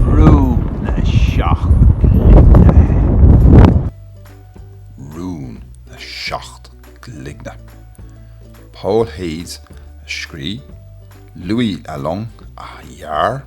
Rún na Seacht gCloigne. Rún na Seacht gCloigne. Paul Thiès a scrígh, Louis Alloing a dhear.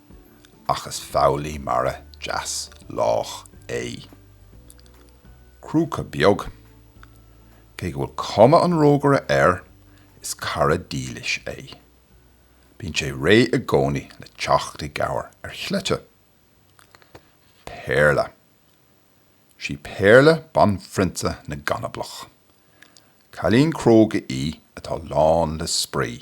ach is foghlaí mara deas lách é. Crúca Beag. Cé go bhfuil cuma an rógaire air, is cara dílis é. Bíonn sé réidh i gcónaí le teacht i gcabhair ar Chleite. Péarla. Sí Péarla banphrionsa na gCanablach. Cailín cróga í atá lán le spraoi.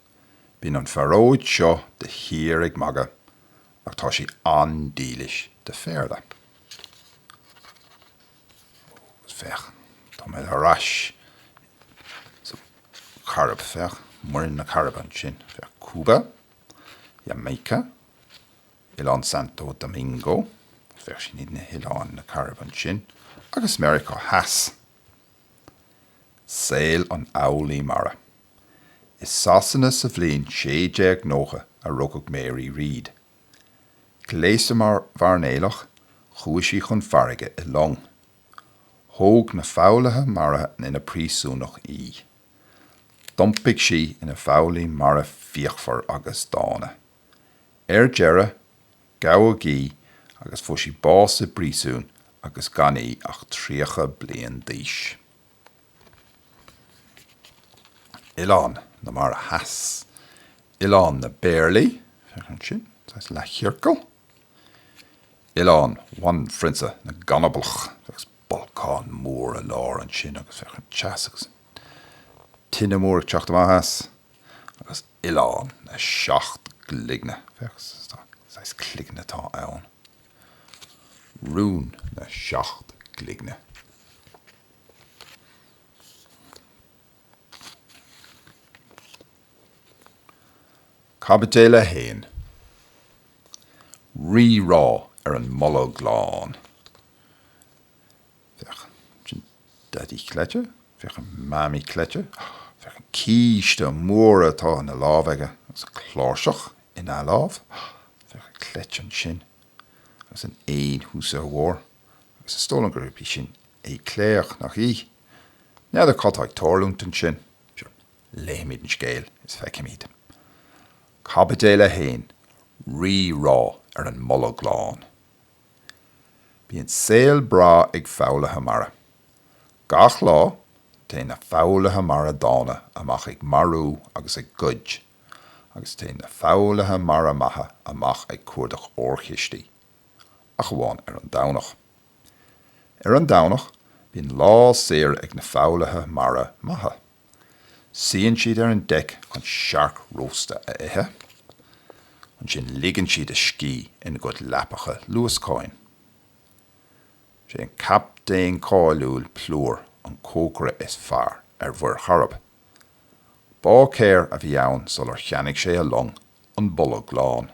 Bíonn an phearóid seo de shíor ag magadh ach tá sí an-dílis do Phéarla. Ó, féach, tá mé ar ais sa Chairib, féach, Muir na Cairibe ansin, féach, Cúba, Jamaica, Oileán Santo Domingo, féach, sin iad na hoileáin na Cairibe ansin, agus Meiriceá Theas. Saol an Fhoghlaí Mara. I Sasana sa bhliain 1690 a rugadh Mary Read. Gléasta mar mhairnéalach, chuaigh sí chun farraige i long. Thóg na foghlaithe mara ina príosúnach í. D'iompaigh sí ina foghlaí mara fíochmhar agus dána. Ar deireadh, gabhadh í agus fuair sí bás i bpríosún agus gan í ach 30 bliain d'aois. Oileáin na Mara Theas. Oileán na bPéarlaí, féach ansin, saghas leathchiorcal. Oileán Bhanphrionsa na gCanablach, agus bolcán mór i lár ansin agus féach an teas agus an tine mór ag teacht amach as. agus Oileán na Seacht gCloigne, féach saghas cloigne atá ann, Rún na Seacht gCloigne. Caibidil 1. Rí-rá ar an mBolg Lán. Féach an Daidí Cleite. Féach an Mamaí Cleite. Féach an císte mór atá ina lámh aige agus an cláirseach ina lámh. Féach an cleite ansin agus an éan thuas ar a bharr agus is dóigh liom gurb í sin Éclair, nach í? N'fheadar cad tá ag tarlúint ansin. Sure, léifimid an scéal is feicfimid. Caibidil 1, Rí-rá ar an mBolg Lán. Bíonn saol breá ag foghlaithe mara. Gach lá, téann na foghlaithe mara dána amach ag marú agus ag goid, agus téann na foghlaithe mara maithe amach ag cuardach órchistí. Ach amháin ar an Domhnach. Ar an Domhnach, bíonn lá saor ag na foghlaithe mara maithe. Suíonn siad ar an deic chun searc rósta a ithe. Ansin ligeann siad a scíth ina gcuid leapacha luascáin. Is é an captaen cáiliúil Plúr an cócaire is fearr ar Mhuir Chairib. Báicéir a bhí ann sular cheannaigh sé a long, an Bolg Lán.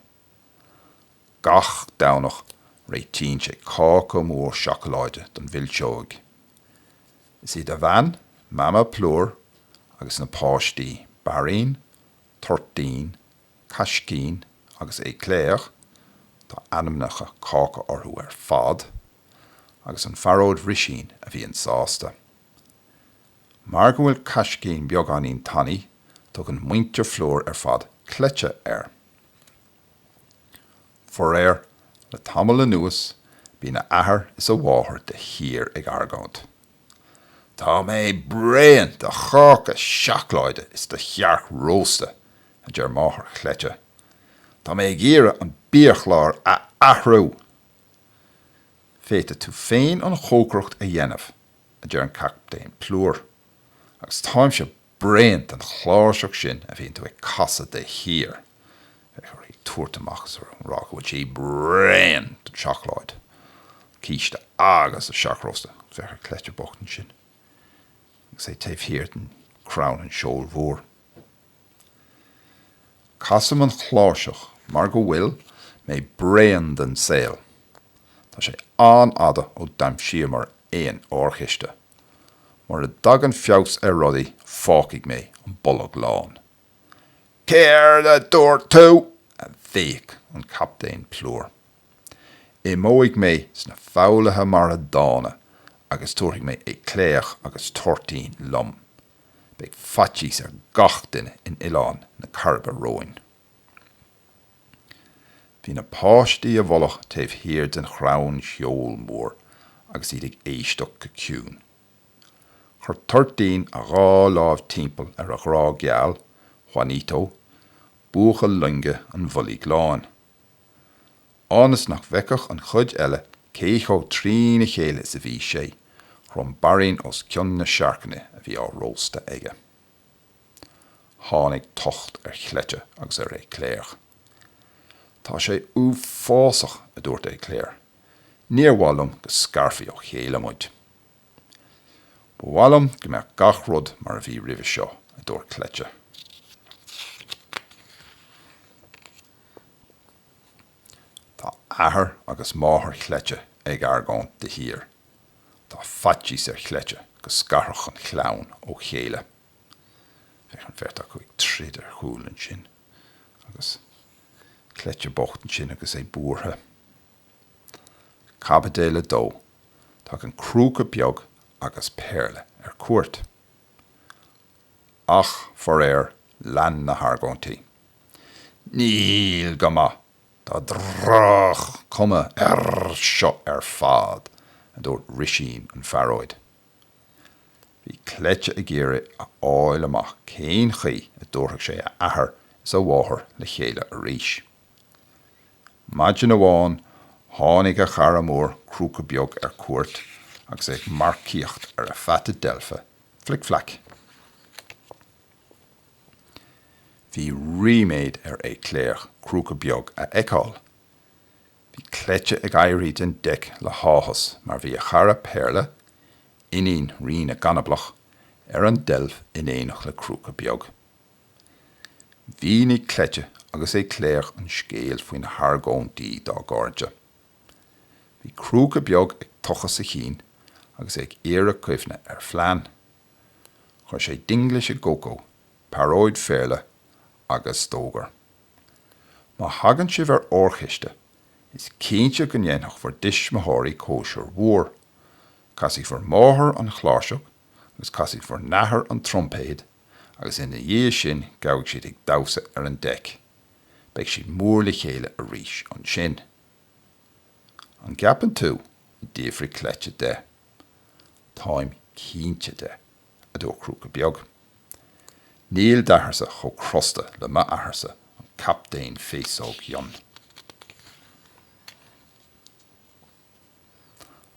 Gach Domhnach réitíonn sé cáca mór seacláide don mhilseoig. Is iad a bhean, Mama Plúr, agus na páistí, Bairín, Toirtín, Caiscín agus Éclair, tá ainmneacha cáca orthu ar fad, agus an phearóid Risín a bhíonn sásta. Mar go bhfuil Caiscín beagáinín tanaí, tugann muintir Phlúr ar fad Cleite air. Faraor, le tamall anuas bíonn a athair is a mháthair de shíor ag argóint. Tá mé bréan de cháca seacláide is de shearc rósta, a deir máthair Chleite. Tá mé ag iarraidh an biachlár a athrú! Féadfaidh tú féin an chócaireacht a dhéanamh, a deir an Captaen Plúr, agus táimse bréan den chláirseach sin a bhíonn tú ag casadh de shíor. Féach uirthi ag tabhairt amach is ag rá go bhfuil sí bréan den seacláid, císte agus an searc rósta, féach ar Cleite bocht ansin, agus é taobh thiar den chrann an seoil mhór. Casaim an chláirseach mar go bhfuil mé bréan den saol. Tá sé an-fhada ó d'aimsíomar aon órchiste. Mura dtagann feabhas ar rudaí, fágfaidh mé an Bolg Lán. Céard a dúirt tú? a bhéic an Captaen Plúr. Imeoidh mé sna foghlaithe mara dána agus tabharfaidh mé Éclair agus Toirtín liom. Beidh faitíos ar gach duine in Oileán na Cairibe romhainn. Bhí na páistí i bhfolach taobh thiar den chrann seoil mhór agus iad ag éisteacht go ciúin. Chuir Toirtín a dhá láimh timpeall ar a ghrá geal, Juanito, buachaill loinge an Bhoilg Láin. Ionas nach bhfeicfeadh an chuid eile cé chomh trína chéile is a bhí sé, chrom Bairín os cionn na searcanna a bhí á róstadh aige. Tháinig tocht ar Chleite agus ar Éclair. Tá sé uafásach, a dúirt Éclair. Níor mhaith liom go scarfaí ó chéile muid. Ba mhaith liom go mbeadh gach rud mar a bhí roimhe seo, a dúirt Cleite. Tá athair agus máthair Chleite ag argóint de shíor. Tá faitíos ar Chleite go scarfadh an chlann ó chéile. Féach an bheirt acu ag troid ar chúl ansin, agus Cleite bocht ansin agus é buartha. Caibideal a Dó, Tagann Crúca Beag agus Péarla ar cuairt. ach faraor lean na hargóintí, Níl go maith, tá droch-chuma air seo ar fad, a dúirt Risín an phearóid. Bhí Cleite ag iarraidh a fháil amach cén chaoi a dtabharfadh sé a athair is a mháthair le chéile arís. Maidin amháin tháinig a chara mór Crúca Beag ar cuairt agus é ag marcaíocht ar a pheata deilfe Flic Flac. Bhí ríméad ar Éclair Crúca Beag a fheiceáil. Bhí Cleite ag éirí den deic le háthas mar bhí a chara Péarla, iníon Rí na gCanablach, ar an deilf in éineacht le Crúca Beag. Mhínigh Cleite agus Éclair an scéal faoi na hargóintí dá gcairde. Bhí Crúca Beag ag tochas a chinn agus é ag iarraidh cuimhneamh ar phlean. Chuir sé dinglis i gCócó, pearóid Phéarla, agus d'fhógair, Má thagann sibh ar órchiste, is cinnte go ndéanfaidh bhur dtuismitheoirí cóisir mhór. Casfaidh bhur máthair an chláirseach agus casfaidh bhur n-athair an troimpéad agus ina dhiaidh sin gabhfaidh siad ag damhsa ar an deic. beidh siad mór le chéile arís ansin. An gceapann tú? a d'fhiafraigh Cleite de. Táim cinnte de, a dúirt Crúca Beag. Níl d'atharsa chomh crosta le m'atharsa an Captaen Féasóg Fhionn.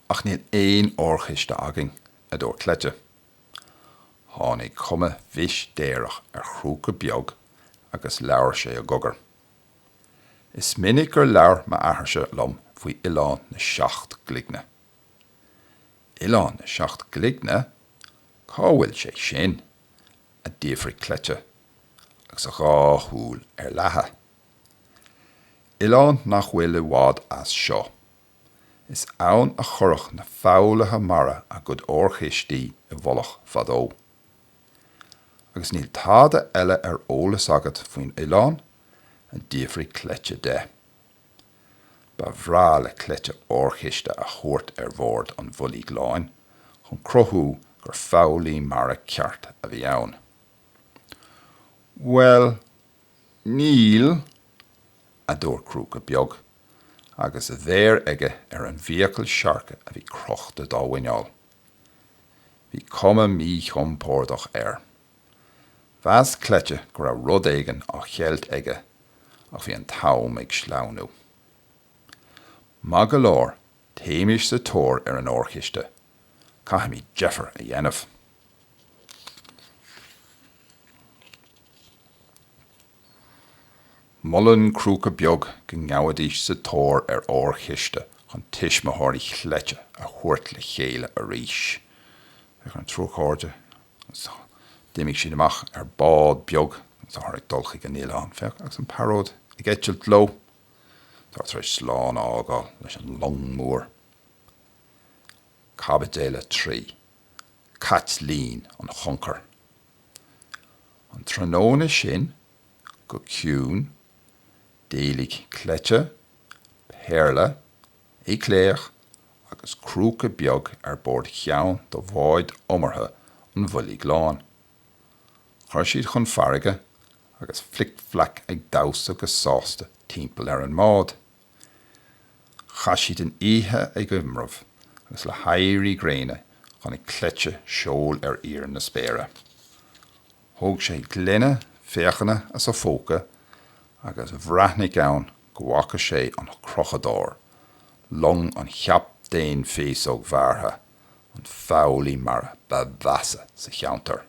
Ach níl aon órchiste againn, a dúirt Cleite. Tháinig cuma mhistéireach ar Chrúca Beag agus labhair sé i gcogar. Is minic gur labhair m'athairse liom faoi Oileán na Seacht gCloigne. Oileán na Seacht gCloigne? Cá bhfuil sé sin? a d'fhiafraigh Cleite, agus a dhá shúil ar leathadh. Oileán nach bhfuil i bhfad as seo. Is ann a chuirfeadh na foghlaithe mara a gcuid órchistí i bhfolach fadó. Agus níl tada eile ar eolas agat faoin oileán a d'fhiafraigh Cleite de. Ba bhreá le Cleite órchiste a thabhairt ar bhord an Bhoilg Láin chun cruthú gur foghlaí mara ceart a bhí ann. Bhuel, níl, a dúirt Crúca Beag, agus a mhéar aige ar an bhfiacail siorca a bhí crochta dá mhuineál. Bhí cuma míchompordach air. Mheas Cleite go raibh rud éigin á cheilt aige, ach bhí an t-am ag sleamhnú. Maith go leor, téimís sa tóir ar an órchiste, caithfimid deifir a dhéanamh. Molann Crúca Beag go ngabhaidís sa tóir ar órchiste chun tuismitheoirí Chleite a thabhairt le chéile arís. Féach ar an triúr cairde d'imigh siad amach ar bád beag agus táthar ag dul chuig an oileán. Féach, agus an pearóid ag eitilt leo, táthar tar éis slán a fhágáil leis an long mór. Caibidil a 3. Caitlín an Choncair. An tráthnóna sin, go ciúin, d'éalaigh Cleite, Péarla, Éclair agus Crúca Beag ar bord cheann de bháid iomartha an Bhoilg Láin. Chuir siad chun farraige agus Flic-Flac ag damhsa go sásta timpeall ar an mbád. Chaith siad an oíche ag iomramh agus le héirí gréine chonaic Cleite seol ar fhíor na spéire. Thóg sé gloine féachana as a phóca agus bhreathnaigh ann go bhfaca sé an Crochadóir, long an Chaptaein Féasóg Bhearrtha, an foghlaí mara ba mheasa sa cheantar.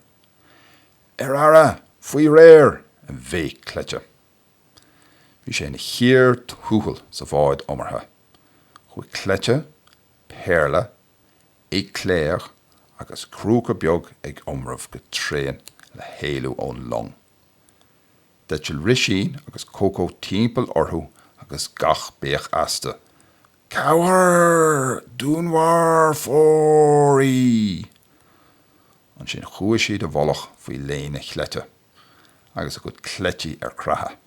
Ar aire! Faoi réir! a bhéic Cleite. Bhí sé ina chíor thuathail sa bhád iomartha. Chuaigh Cleite, Péarla, Éclair agus Crúca Beag ag iomramh go tréan le héalú ón long. D'eitil Rísín agus Cócó timpeall orthu agus gach béic astu, Cabhair! Dúnmharfóirí! Ansin chuaigh siad i bhfolach faoi léine Chleite. agus a gcuid cleití ar creathadh.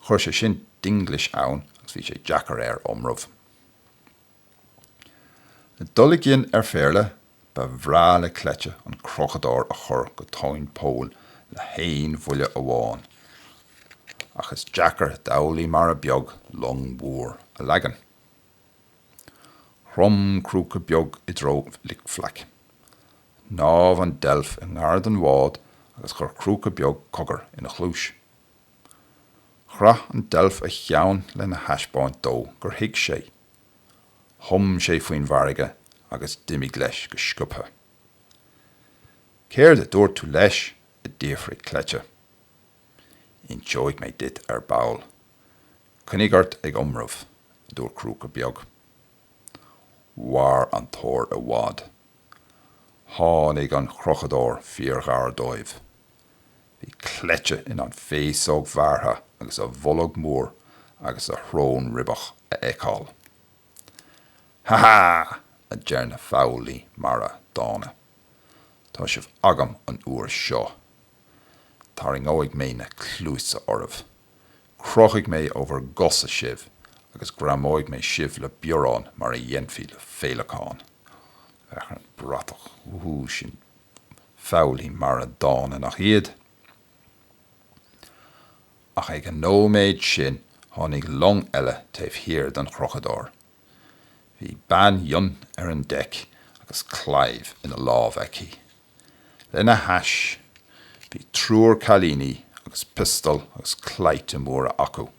Chuir sé sin dinglis ann agus bhí sé deacair air iomramh. Le dul i gcion ar Phéarla, ba bhreá le Cleite an Crochadóir a chur go tóin poill le haon bhuille amháin, ach is deacair d'fhoghlaí mara beag long mhór a leagan. Chrom Crúca Beag i dtreo Fhlic Fleaic. Shnámh an deilf i ngar don bhád agus chuir Crúca Beag cogar ina chluais. Chraith an deilf a cheann lena thaispeáint dó gur thuig sé. Thum sé faoin bhfarraige agus d'imigh leis go sciobtha. Céard a dúirt tú leis? a d'fhiafraigh Cleite. Inseoidh mé duit ar ball. Coinnigh ort ag iomramh, a dúirt Crúca Beag. Mhair an tóir i bhfad. Tháinig an crochadóir fíorghar dóibh. Bhí Cleite in ann Féasóg Bhearrtha agus a bholg mór agus a shrón ribeach a fheiceáil. Ha ha! a deir na foghlaí mara dána. Tá sibh agam an uair seo. Tarraingeoidh mé na cluasa oraibh. Crochfaidh mé ó bhur gcosa sibh agus greamóidh mé sibh le biorán mar a dhéanfaí le féileacáin. Féach ar an bhratach. Wúhú, sin foghlaí mara dána, nach iad? Ach ag an nóiméad sin tháinig long eile taobh thiar den chrochadóir. Bhí bean fhionn ar an deic agus claíomh ina lámh aici. Lena hais bhí triúr cailíní agus piostal agus claimhte móra acu.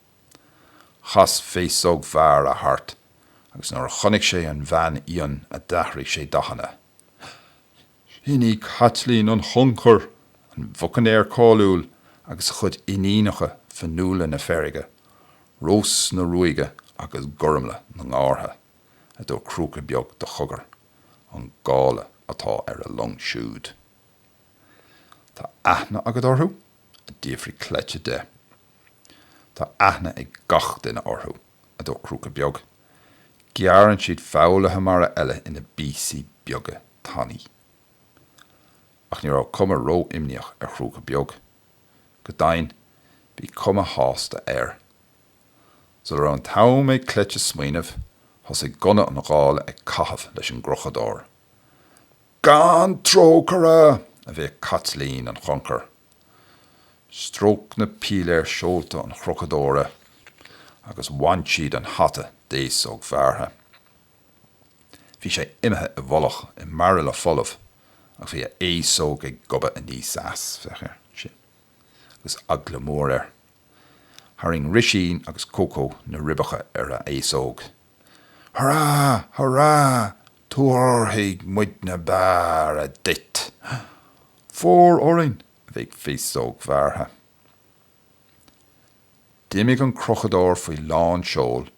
Chas Féasóg Bhearrtha thart agus nuair a chonaic sé an bhean fhionn a d'athraigh sé dathanna. Sin í Caitlín an Choncair, an bhucainéir cáiliúil agus a chuid iníonacha Fionnuala na Feirge, Rós na Ruaige agus Gormlaith na nGártha, a dúirt Crúca Beag de chogar. an gála atá ar a long siúd. Tá aithne agat orthu? a d'fhiafraigh Cleite de. Tá aithne ag gach duine orthu, a dúirt Crúca Beag. Gearrann siad foghlaithe mara eile ina bpíosaí beaga tanaí. Ach ní raibh cuma ró-imníoch ar Chrúca Beag. Go deimhin, bhí cuma shásta air. Sula raibh an t-am ag Cleite smaoineamh, thosaigh gunna an ghála ag caitheamh leis an gcrochadóir. Gan trócaire! a bhéic Caitlín an Choncair. Stróic na píléir seolta an chrochadóra agus bhain siad an hata d'Fhéasóg Bhearrtha. Bhí sé imithe i bhfolach i mbairille folamh ach bhí a fhéasóg ag gobadh aníos as, féach air sin, agus eagla mór air. Tharraing Risín agus Cócó na ribeacha ar a fhéasóg. Hurá! Hurá! Tabharfaidh muidne bearradh duit! Fóir orainn, a bhéic Féasóg Bhearrtha. D'imigh an crochadóir faoi lán seoil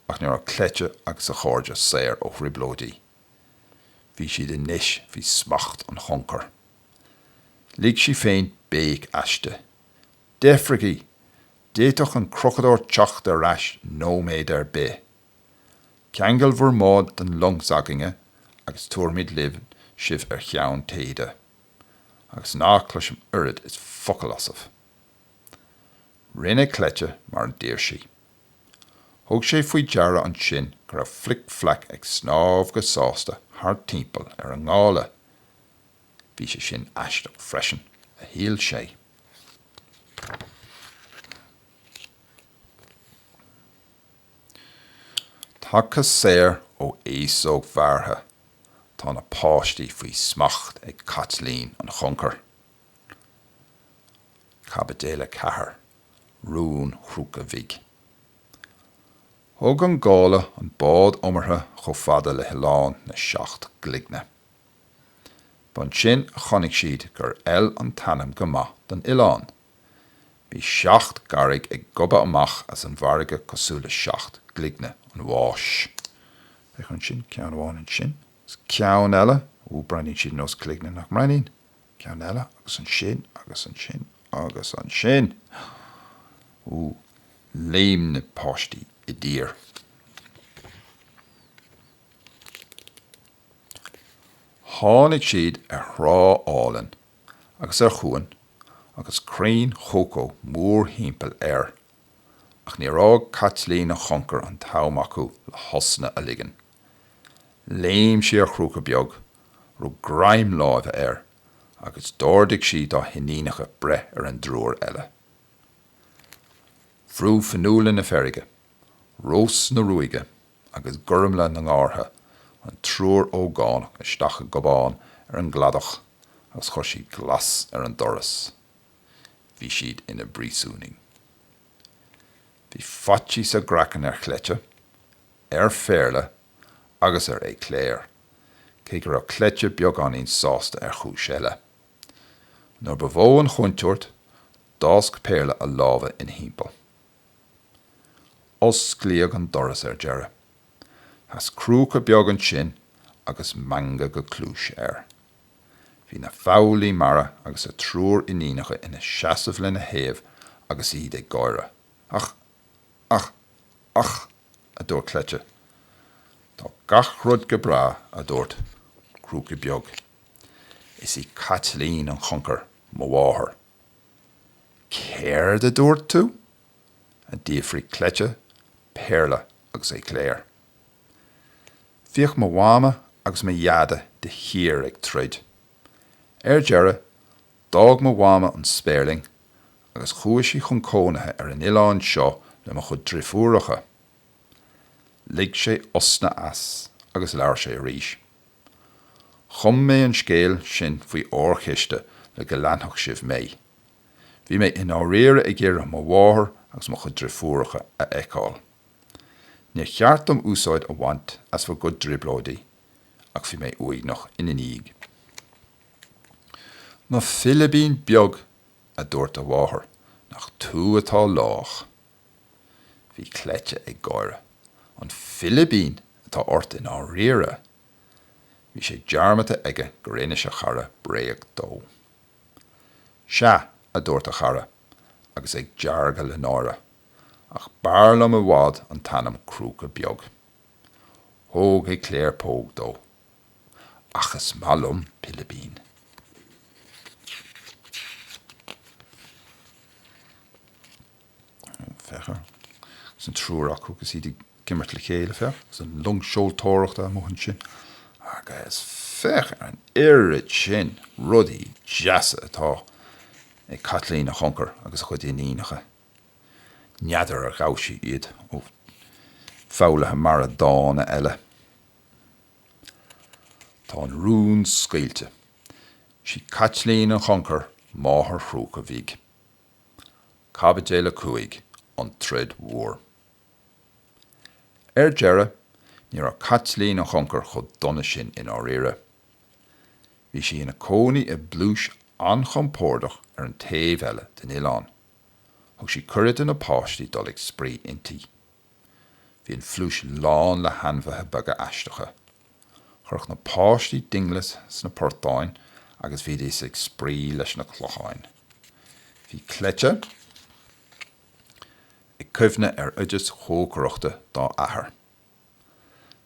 ach ní raibh Cleite agus a chairde saor ó thrioblóidí. Bhí siad anois faoi smacht an choncair. Lig sí féin béic aisti. Deifrígí! D'fhéadfadh an crochadóir teacht ar ais nóiméad ar bith? Ceangail bhur mbád den long s'againne agus tabharfaimid libh sibh ar cheann téide, agus ná cloisim oiread is focal asaibh. Rinne Cleite mar a d'iarr sí. Thug sé faoi deara ansin go raibh Flic Flac ag snámh go sásta thart timpeall ar an ngála, Bhí sé sin aisteach freisin, a shíl sé. Tagtha saor ó Fhéasóg Bhearrtha, tá na páistí faoi smacht ag Caitlín an Choncair. Caibidil 4, Rún Chrúca Bhig Thug an gála an bád iomartha chomh fada le hOileán na Seacht gCloigne. B'ansin a chonaic siad gur fheil an t-ainm go maith don oileán. Bhí seacht gcarraig ag gobadh amach as an bhfarraige cosúil le seacht gcloigne an bháis. Féach ansin, ceann amháin ansin, ceann eile, ó, breathnaíonn siad ar nós cloigne, nach mbreathnaíonn? ceann eile, agus ansin, agus ansin, agus ansin! Ó, léim na páistí i dtír. Tháinig siad ar thrá álainn agus ar chuan agus crainn chócó mórthimpeall air, ach níor fhág Caitlín an Choncair an t-am acu le hosna a ligean. Léim sí ar Chrúca Beag, rug greim láimhe air agus d'ordaigh sí dá hiníonacha breith ar an dtriúr eile. Bhrú Fionnuala na Feirge, Rós na Ruaige agus Gormfhlaith na nGártha, an triúr ógánach isteach i gcábán ar an gcladach agus chuir siad glas ar an doras. Bhí siad ina bpríosúnaigh. Bhí faitíos a gcraiceann ar Chleite, ar Phéarla agus ar Éclair, cé go raibh Cleite beagáinín sásta ar chúis eile. Nuair ba mhó an chontúirt, d'fhásc Péarla a lámha ina thimpeall. Osclaíodh an doras ar deireadh. Sheas crúca beag ansin agus meangadh go cluais air. Bhí an foghlaí mara agus a triúr iníonacha ina seasamh lena thaobh agus iad ag gáire. Ach. ach. ach. a dúirt Cleite. Tá gach rud go breá, a dúirt Crúca Beag. Is í Caitlín an Choncair, mo mháthair. Céard a dúirt tú? a d'fhiafraigh Cleite, Péarla agus Éclair. Bhíodh mo mhama agus mo dhaide de shíor ag troid. Ar deireadh, d'fhág mo mhama an Spéirling agus chuaigh sí chun cónaithe ar an oileán seo le mo chuid drifiúracha. Lig sé osna as agus labhair sé arís. Chum mé an scéal sin faoi órchiste le go leanfadh sibh mé. Bhí mé i ndáiríre ag iarraidh mo mháthair agus mo chuid driofúracha a fheiceáil. Níor cheart dom úsáid a bhaint as bhur gcuid trioblóidí, ach bhí mé uaigneach ina ndiaidh. Mo philibín beag, a dúirt a mháthair, nach tú atá lách. Bhí Cleite ag gáire. An Philibín atá ort i ndáiríre! Bhí sé dearmadta aige gur inis a chara bréag dó. Sea, a dúirt a chara, agus é ag deargadh le náire, ach b'fhearr liom i bhfad an t-ainm Crúca Beag. Thug Éclair póg dó. Ach is maith liom Pilibín. féach ar. Agus an triúr acu agus iad ag imirt le chéile, féach. Agus an long seoltóireachta amuigh ansin. Agus féach ar an oiread sin rudaí deasa atá ag Caitlín an Choncair agus a cuid iníonacha. N'fheadar ar ghabh sí iad ó foghlaithe mara dána eile. Tá an rún scaoilte. Sí Caitlín an Choncair máthair Chrúca Bhig. Caibidil 5, An troid mhór. Ar deireadh, ní raibh Caitlín an Choncair chomh dona sin i ndáiríre. Bhí sí ina cónaí i bpluais an-chompordach ar an taobh eile den oileán. Thug sí cuireadh do na páistí dul ag spraoi inti. Bhí an phluais lán le hainmhithe beaga aisteacha. Chuireadh na páistí dinglis sna portáin agus bhídís ag spraoi leis na cloicheáin. Bhí Cleite ag cuimhneamh ar oideas chócaireachta dá athair.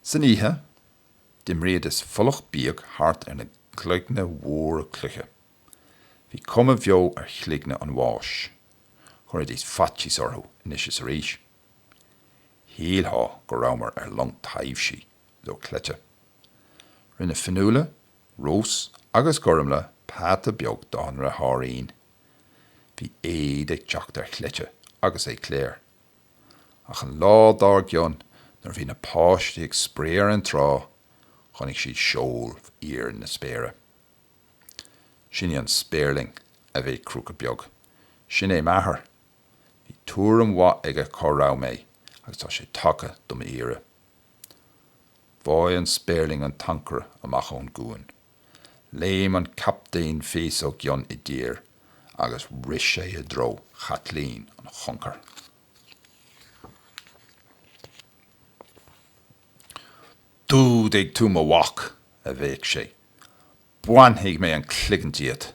San oíche, d'imrídís folach bíog thart ar na cloigne mhóra cloiche. Bhí cuma bheo ar chloigne an bháis. Chuiridís faitíos orthu anois is arís. Shílfeá go rabhamar ar long taibhsí a dúirt Cleite. Rinne Fionnuala, Rós agus Gormlaith peata beag dá ndeartháirín. Bhí éad ag teacht ar Chleite agus Éclair. Ach an lá dár gcionn, nuair a bhí na páistí ag spraoi ar an trá, chonaic siad seol ar fhíor na spéire. Sin í an Spéirling a bhéic Crúca Beag. Sin é m'athair. Bhí tuairim mhaith aige cá raibh mé agus tá sé tagtha do m'iarraidh. Bháigh an Spéirling an t-ancaire amach ón gcuan. Léim an captaen Féasóg Fhionn i dtír agus rith sé i dtreo Chaitlín an Choncair. D'fhuadaigh tú mo mhac! a bhéic sé. Bainfidh mé an cloigeann díot!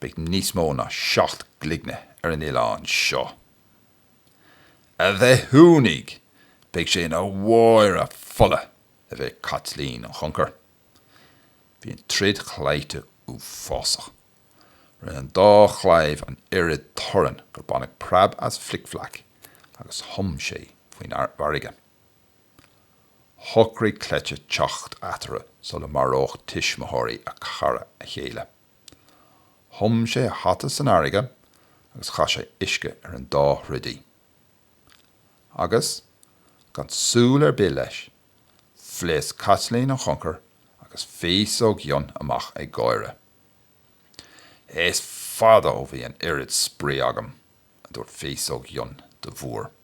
Beidh níos mó ná seacht gcloigne ar an oileán seo! A bhithiúnaigh! Beidh sé ina bháire fola! a bhéic Caitlín an Choncair. Bhí an troid chlaimhte uafásach. Rinne an dá chlaíomh an oiread torainn gur baineadh preab as Flic Fleaic agus thum sé faoin bhfarraige. shocraigh Cleite teacht eatarthu sula maródh tuismitheoirí a chara a chéile. Thum sé a hata san fharraige agus chaith sé uisce ar an dá throdaí. Agus, gan súil ar bith leis, phléasc Caitlín an Choncair agus Féasóg Fhionn amach ag gáire. Is fada ó bhí an oiread spraoi agam, a dúirt Féasóg Fhionn do Mhúr.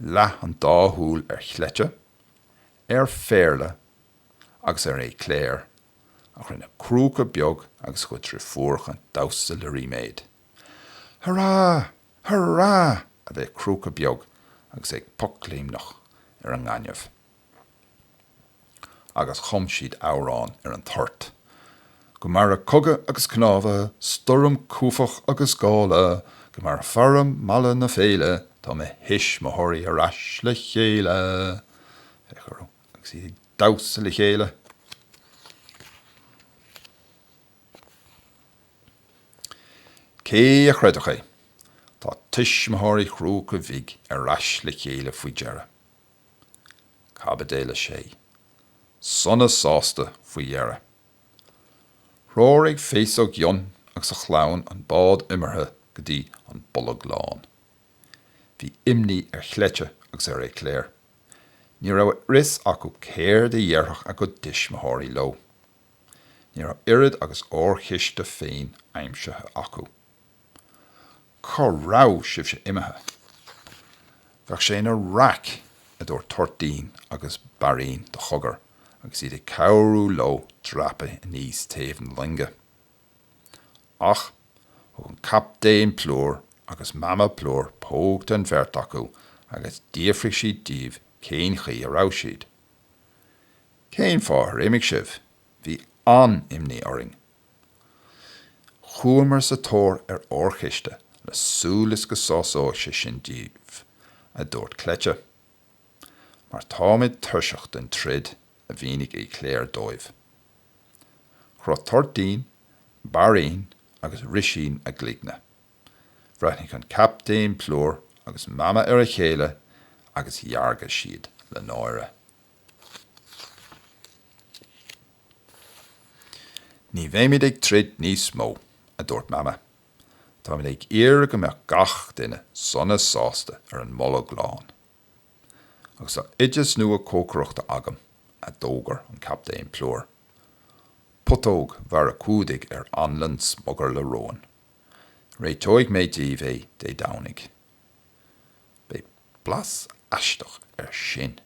Leath an dá shúil ar Chleite, ar Phéarla agus ar Éclair ach rinne Crúca Beag agus a chuid deirfiúracha damhsa le ríméad. Hurá! Hurá! a bhéic Crúca Beag agus é ag pocléimneach ar an ngaineamh. agus chum siad amhrán ar an toirt, Go maire cogadh agus cnámha, stoirm, cuaifeach agus gála, Go maire feara mala na féile, tá mo thuismitheoirí ar ais le chéile. Féach orthu agus iad ag damhsa le chéile. Cé a chreidfeadh é? Tá tuismitheoirí Chrúca Bhig ar ais le chéile faoi dheireadh. Caibidil 6. Sona sásta faoi dheireadh. Threoraigh Féasóg Fhionn agus a chlann an bád iomartha go dtí an Bolg Lán. Bhí imní ar Chleite agus ar Éclair. Ní raibh a fhios acu céard a dhéarfadh a gcuid tuismitheoirí leo. Ní raibh oiread agus órchiste féin aimsithe acu. Cá raibh sibhse imithe? Bheadh sé ina raic, a dúirt Toirtín agus Bairín de chogar agus iad ag cabhrú leo dreapadh aníos taobh na loinge. Ach thug an Captaen Plúr agus Mama Plúr póg don bheirt acu agus d'fhiafraigh siad díobh cén chaoi a raibh siad. Cén fáth ar imigh sibh? Bhí an-imní orainn. Chuamar sa tóir ar órchiste le súil is go sásóidh sé sin díbh, a dúirt Cleite. Mar táimid tuirseach den troid, a mhínigh Éclair dóibh. Chroith Toirtín, Bairín agus Rísín a gcloigne. Bhreathnaigh an Captaen Plúr agus Mama ar a chéile agus dheargaigh siad le náire. Ní bheimid ag troid níos mó, a dúirt Mama. Táimid ag iarraidh go mbeadh gach duine sona sásta ar an mBolg Lán. Agus tá oideas nua cócaireachta agam, a d'fhógair an Captaen Plúr. Putóg mhara cumhdaigh ar anlann smugairle róin. Réiteoidh mé daoibh é Dé Domhnaigh. Beidh blas aisteach air sin.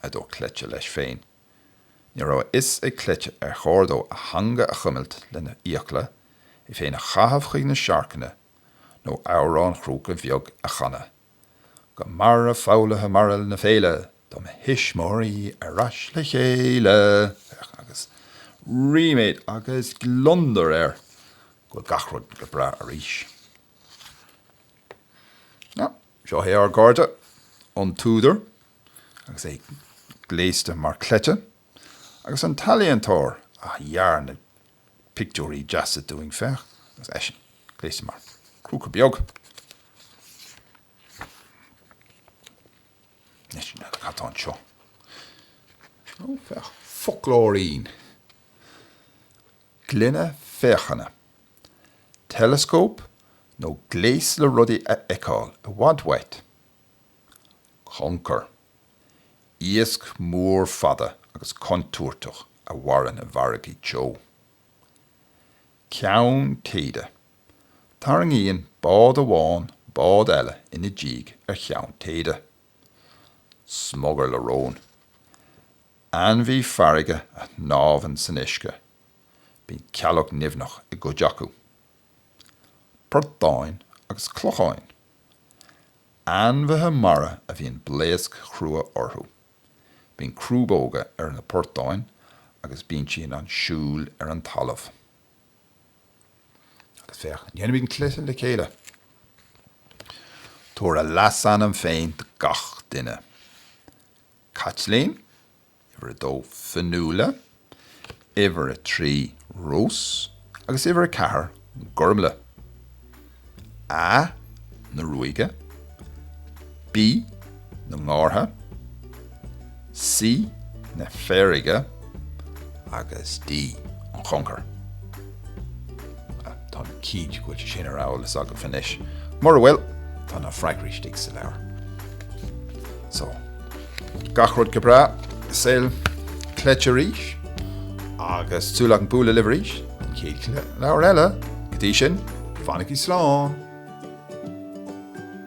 a dúirt Cleite leis féin. Ní raibh a fhios ag Cleite ar chóir dó a theanga a chuimilt lena fhiacla, é féin a chaitheamh chuig na searcanna, nó amhrán Chrúca Bheag a chanadh, Go maire foghlaithe mara na féile, tá mo thuismitheoirí ar ais le chéile! Agus ríméad agus gliondar air go bhfuil gach rud go breá arís. Now, seo é ár gcairde, an t-údar, agus é gléasta mar Cleite, agus an t-ealaíontóir a dhear na pictiúirí deasa dúinn, féach, agus eisean gléasta mar Chrúca Beag. Cad tá anseo? Ó, féach, foclóirín. Gloine féachana. Teileascóp nó gléas le rudaí a fheiceáil i bhfad uait. Concar. Iasc mór fada agus contúirteach a mhaireann i bhfarraigí teo. Ceann téide. Tarraingíonn bád amháin bád eile ina diaidh ar cheann téide. Smugairle róin. Ainmhí farraige a shnámhann san uisce. Bíonn cealg nimhneach i gcuid acu. Portáin agus cloicheáin. Ainmhithe mara a bhíonn blaosc chrua orthu. Bíonn crúbóga ar na portáin agus bíonn siad in ann siúl ar an talamh. Agus féach, déanfaimid an cluiche le chéile. Tabhair a leasainm féin do gach duine. Caitlín? Uimhir a dó, Fionnuala, uimhir a trí, Rós, agus uimhir a ceathair, Gormlaith. A na ruaige, B na ngártha, C na feirge, agus D an choncair. Tá mé cinnte go bhfuil sé sin ar eolas agaibh anois. Mura bhfuil, tá na freagraí istigh sa leabhar. So, gach rud go breá i saol Cleite arís, agus súil agam bualadh libh arís don chéad leabhar eile. Go dtí sin, fanaigí slán!